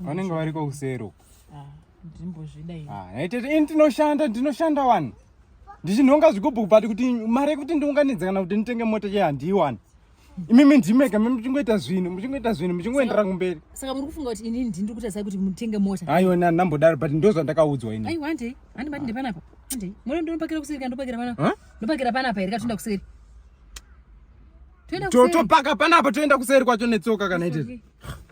vanenge variko kuseri uko ah, ndimbozvida ini ah, aitete ini tinoshanda ndinoshanda wani ndichinhonga zvigubhu but kuti mari yekuti ndiunganidze kana kuti nditenge mota che handiiwani imimi ndimega mi muchingoita zvinhu muchingoita zvinhu muchingoendera kumberi saka muri kufunga kuti ini ndiri kuita sai kuti mutenge mota aiwa nambodaro but ndo zvandakaudzwa ini aiwa handei handi bati ndepanapa handei mona ndinopakira kuseri kana ndopakira panapa ndopakira panapa here katoenda kuseri topaka panapa toenda kuseri kwacho netsoka kana ite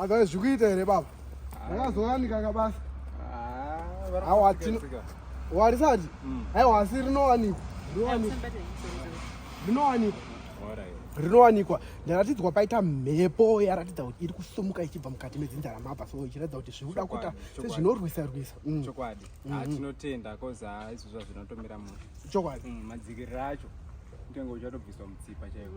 Adhae zvikuita here baba? Ndakazowanika kabasa. Ah, Hawa tino. Warisati? Mm. Hawa asi rinowanikwa. Rinowanikwa. Rinowanikwa. rinowanikwa ndaratidzwa paita mhepo yaratidza kuti iri kusumuka ichibva mukati medzinza ramabva so ichiratidza kuti zviri kuda kuita sezvinorwisa rwisa mm. chokwadi mm. ah, tinotenda koz ah, izvozvo hazvinotomira munhu chokwadi mm, madzikiriro acho kutenga uchatobviswa mutsipa chaivo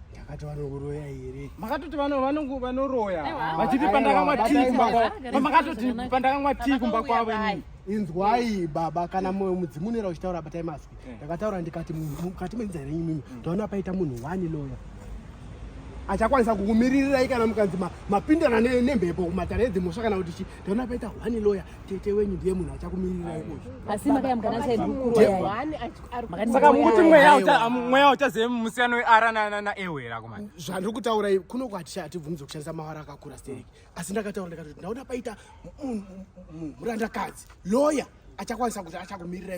Makati vanoroya here? Makatoti vano vanongo vanoroya. Vachiti pandakamwa tea kumba kwavo. Pamakatoti pandakamwa tea kumba kwavo ini. Inzwai baba kana moyo mudzimu unoera uchitaura batai maswi. Eh. Ndakataura ndikati munhu mukati menza here nyinyi. Mm. Ndaona paita munhu wani loya. Achakwanisa kukumiririrai kana mukanzi mapindana nemhepo kumatare edzimhosva kana kuti chi. Ndaona paita wani loya. tete wenyu ndiye munhu achakumirira ikocho asi makayamka nasaka mukuti mweya uchazive musiyano weara naewera kumai zvandiri kutaura kuno kwati hatibvumidze kushandisa mawara akakura stereki asi ndakataura ndikatoti ndaona paita murandakadzi loya achakwanisa kuti achakumirira